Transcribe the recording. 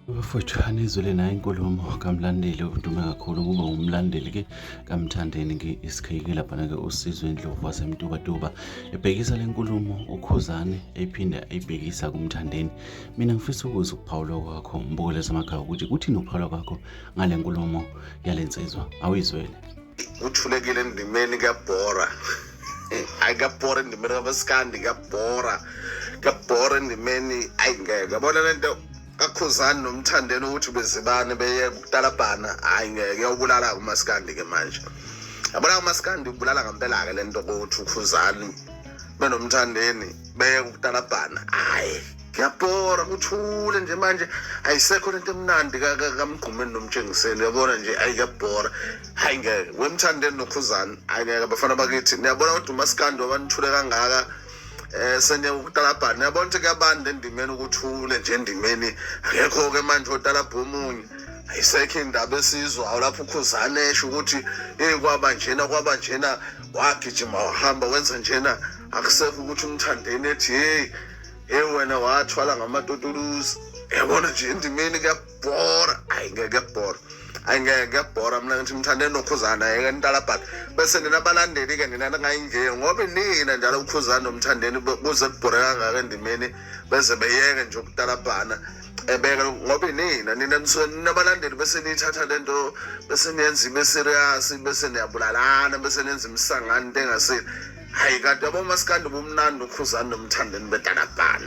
Bafowethu anizwele nayo inkulumo kamlandeli udume kakhulu kuba umlandeli ke kamthandeni ke isikhayike laphana ke usizwe indlovu wasemtubatuba ebhekisa le nkulumo ukhuzane ephinde ayibhekisa kumthandeni mina ngifisa ukuza ukuphawula kwakho mbukele zamakhaya ukuthi kuthini ukuphawula kwakho ngale nkulumo yale nsizwa awuyizwele uthulekile endimeni kuyabhora ayi kuyabhora endimeni kabasikandi kuyabhora kuyabhora endimeni ayi ngeke yabona le nto kakhuzani nomthandeni ukuthi bezibane beye kutalabhana hhayi ngeke uyawubulala-ke umasikandi-ke manje yabona umasikandi ubulala ngempela-ke le nto kokuthi ukhuzani benomthandeni beye kutalabhana hhayi yabhora kuthule nje manje ayisekho lento emnandi kamgqumeni nomtshengiseni uyabona nje ayi kuyabhora hayi ngeke wemthandeni nokhuzani hayi ngeke abafana bakithi niyabona kodwa umasikandi wabanithule kangaka eh senye ukutalabhana niyabona ukuthi kuyabanda endimeni ukuthule nje endimeni akekho-ke manje otalabha omunye ayisekho indaba esizwayo lapho ukhuzane esho ukuthi eyi kwaba njena kwaba njena wagijima wahamba wenza njena akusekho ukuthi umthandeni ethi heyi Hey wena wathwala ngamatotuluzi. Yabona nje endimeni kuyabhora. Ayi ngeke kuyabhora. Ayi ngeke kuyabhora mina ngithi mthande nokhuzana yeke ntalabhaka. Bese nina balandeli ke nina ngayinjeye ngoba nina njalo ukhuzana nomthandeni kuze kubhore kangaka endimeni bese beyeke nje ukutalabhana. ebeka ngoba inina nina nisuke ninabalandeli bese niyithatha le nto bese niyenza ibe serious bese niyabulalana bese nenza imisangano into engasile hhayi kanti yabo masikandi bumnandi ukhuzani nomthandeni bedalabhana